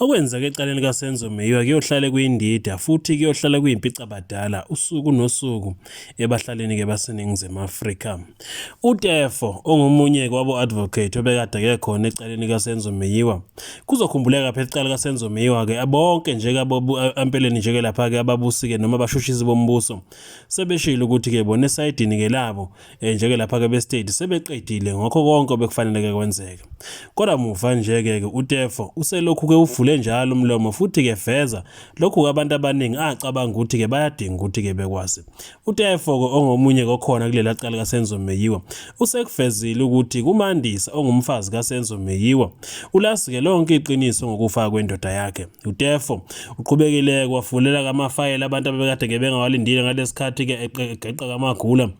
Okwenzeka ecaleni kaSenzo Meyiwa kuyohlale kuyindida futhi kuyohlala kuyimpicabadala usuku nosuku ebahlalini-ke baseNingizimu Afrika. UTefo ongomunye kwabo-advocate obekade ake khona ecaleni kaSenzo Meyiwa. Kuzokhumbuleka phela icala kaSenzo Meyiwa-ke bonke nje empeleni nje-ke lapha-ke ababusike noma abashushizi bombuso sebeshilo ukuthi-ke bona esayidini-ke labo eh, njeke lapha ke bestate sebeqedile ngokho konke obekufaneleke kwenzeke kodwa muva njeke ke uTefo uselokhu ke uvule njalo umlomo futhi ke veza lokhu kabantu abaningi acabanga ukuthi ke bayadinga ukuthi ke bekwazi uTefo ke ongomunye kokhona kulela cala kaSenzo Meyiwa usekuvezile ukuthi kumandisa ongumfazi kaSenzo Meyiwa ulasi ke lonke iqiniso ngokufa kwendoda yakhe UTefo uqhubekile kwavulela kamafayela abantu abebekade ngebengawalindile ngalesikhathi-ke egeqa kamagula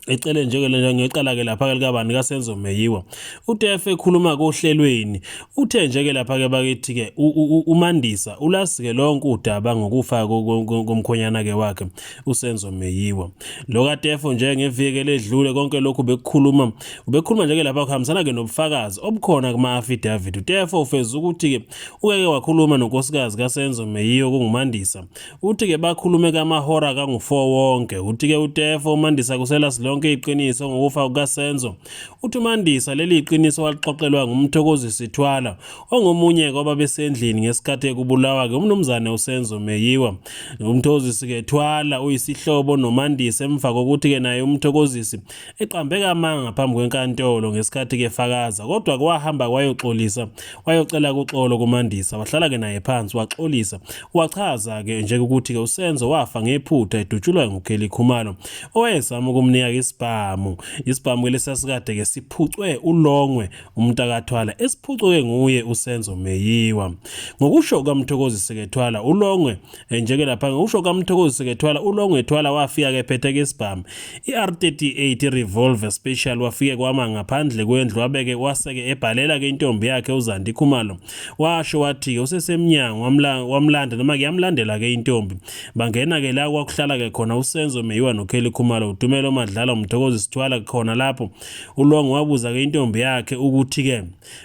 ecele njengele ngecala ke lapha likabani kaSenzo Meyiwa uTef ekhuluma kohlelweni uthe njeke lapha ke bakithi ke uMandisa ulasike lonke udaba ngokufa komkhonyana ke wakhe uSenzo Meyiwa lo kaTef nje ngevike ledlule konke lokhu bekukhuluma ubekhuluma njeke lapha kuhambisana ke nobufakazi obukhona kuma affidavit uTef ufeza ukuthi ke Uke wakhuluma nonkosikazi kaSenzo Meyiwa kunguMandisa. Uthi ke bakhulume kamahora kangu-4 wonke. Uthi ke uTefo uMandisa kusela silonke iqiniso ngokufa kukaSenzo. Uthi uMandisa leli iqiniso walixoxelwa nguMthokozi Sithwala ongomunye kwababesendlini ngesikhathi ekubulawa ke umnumzane uSenzo Meyiwa. UMthokozi Sikethwala uyisihlobo noMandisa emva kokuthi ke naye uMthokozisi eqambeka amanga ngaphambi kwenkantolo ngesikhathi kefakaza kodwa kwahamba kwayoxolisa wayocela kuxolo kumandisa wahlala-ke naye phansi waxolisa wachaza-ke nje ukuthi-ke usenzo wafa ngephutha edutshulwa ngukheli khumalo owayezama ukumnika-ke isibhamu isibhamu-ke lesasikade-ke siphucwe ulongwe umntakathwala esiphucwe-ke nguye usenzo meyiwa ngokusho kukamthokozi sekethwala ulongwe njeke lapha ngiwusho kamthokozi sekethwala ulongo ethwala wafika ke phetheke isibhamu i-r38 revolver special wafike kwama ngaphandle kwendlu wabeke waseke ebhalela ke intombi yakhe uzandi khumalo washo wathi usesemnyango wamlanda noma kuyamlandela ke intombi bangena ke la kwakuhlala ke khona usenzo meyiwa nokheli khumalo utumelo madlala umthokozi sithwala khona lapho ulongo wabuza ke intombi yakhe ukuthi ke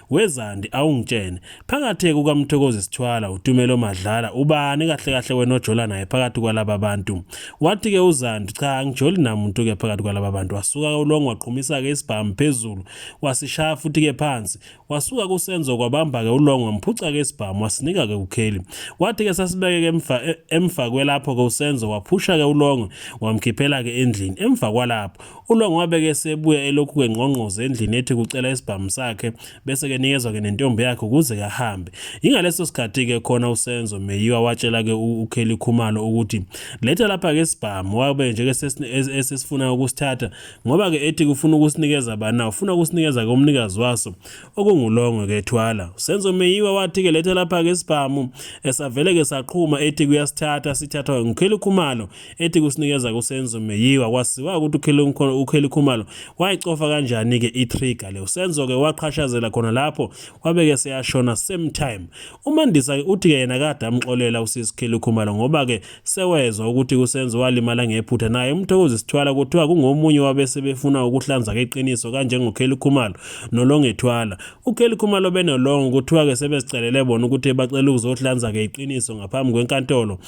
Wezandi awungitshene phakathi kukaMthokozi Sithwala uTumelo Madlala ubani kahle kahle wena ojola naye phakathi kwalaba bantu. Wathi ke uZandi cha angijoli namuntu ke phakathi kwalaba bantu wasuka uLong waqhumisa ke isibhamu phezulu wasishaya futhi ke phansi wasuka kusenzo kwabamba ke uLong wamphuca ke isibhamu wasinika ke uKelly. Wathi ke sasibeke ke emva e, emva kwelapho ke usenzo waphusha ke uLong wamkhiphela ke endlini emva kwalapho ULong wabe ke sebuya elokhu kengqongqoze endlini ethi kucela isibhamu sakhe bese ke nikezwa ke nentombi yakhe ukuze kahambe. Ingaleso sikhathi ke khona uSenzo Meyiwa watshela ke uKelly Khumalo ukuthi letha lapha ke isibhamu wabe nje ke esesifuna ukusithatha ngoba ke ethi kufuna ukusinikeza bana ufuna ukusinikeza ke umnikazi waso okungulongwe ke thwala. Usenzo Meyiwa wathi ke letha lapha ke isibhamu esavele ke saqhuma ethi kuyasithatha sithathwa nguKelly Khumalo ethi kusinikeza kusenzo meyiwa kwaziwa ukuthi ukheli khumalo wayicofa kanjani-ke i-trigger le usenzo-ke waqhashazela khona lapho wabeke seyashona same time umandisa-ke uthi-ke yena kade amxolela usisi kheli khumalo ngoba-ke sewezwa ukuthi kusenzo walimala ngephutha naye umthokozi sithwala kuthiwa kungomunye wabese befuna ukuhlanza-ke iqiniso kanjengokheli khumalo nolongethwala ukheli khumalo benolongo kuthiwa-ke sebezicelele bona ukuthi bacela ukuzohlanza-ke iqiniso ngaphambi kwenkantolo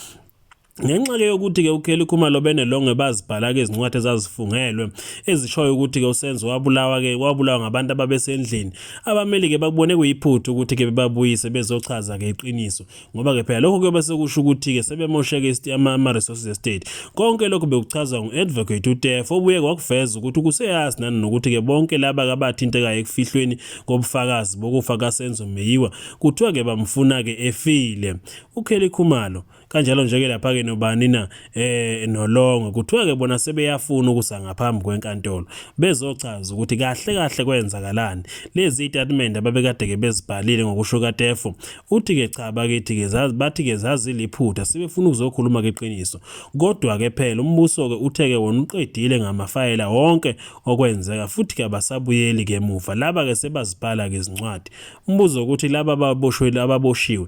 Ngenxa-ke yokuthi-ke uKelly Khumalo benelongwe bazibhala-ke izincwadi ezazifungelwe ezishoyo ukuthi-ke uSenzo wabulawa-ke wabulawa ngabantu ababesendlini. Abameli-ke bakubone kuyiphutha ukuthi-ke bebabuyise bezochaza-ke iqiniso ngoba-ke phela lokho kuyobe sekusho ukuthi-ke sebemosheke ama-resources estate. Konke lokho bekuchazwa ngu-advocate uTefo obuye kwakuveza ukuthi kuseyazi nani nokuthi-ke bonke laba-ke abathintekayo ekufihlweni kobufakazi bokufa kaSenzo Meyiwa kuthiwa-ke bamfuna-ke efile. UKelly Khumalo kanjalo nje-ke lapha-ke nobani na eh nolongo kuthiwa-ke bona sebeyafuna ukusa ngaphambi kwenkantolo bezochaza ukuthi kahle kahle kwenzakalani lezi itatimende ababekade-ke bezibhalile ngokusho katefo uthi-ke cha bakithi-ke bathi-ke zaziliphutha sebefuna ukuzokhuluma-ke iqiniso kodwa-ke phela umbuso-ke uthe-ke wona uqedile ngamafayela wonke okwenzeka futhi-ke abasabuyeli-ke emuva laba-ke sebazibhala-ke izincwadi umbuzo ukuthi laba ababoshiwe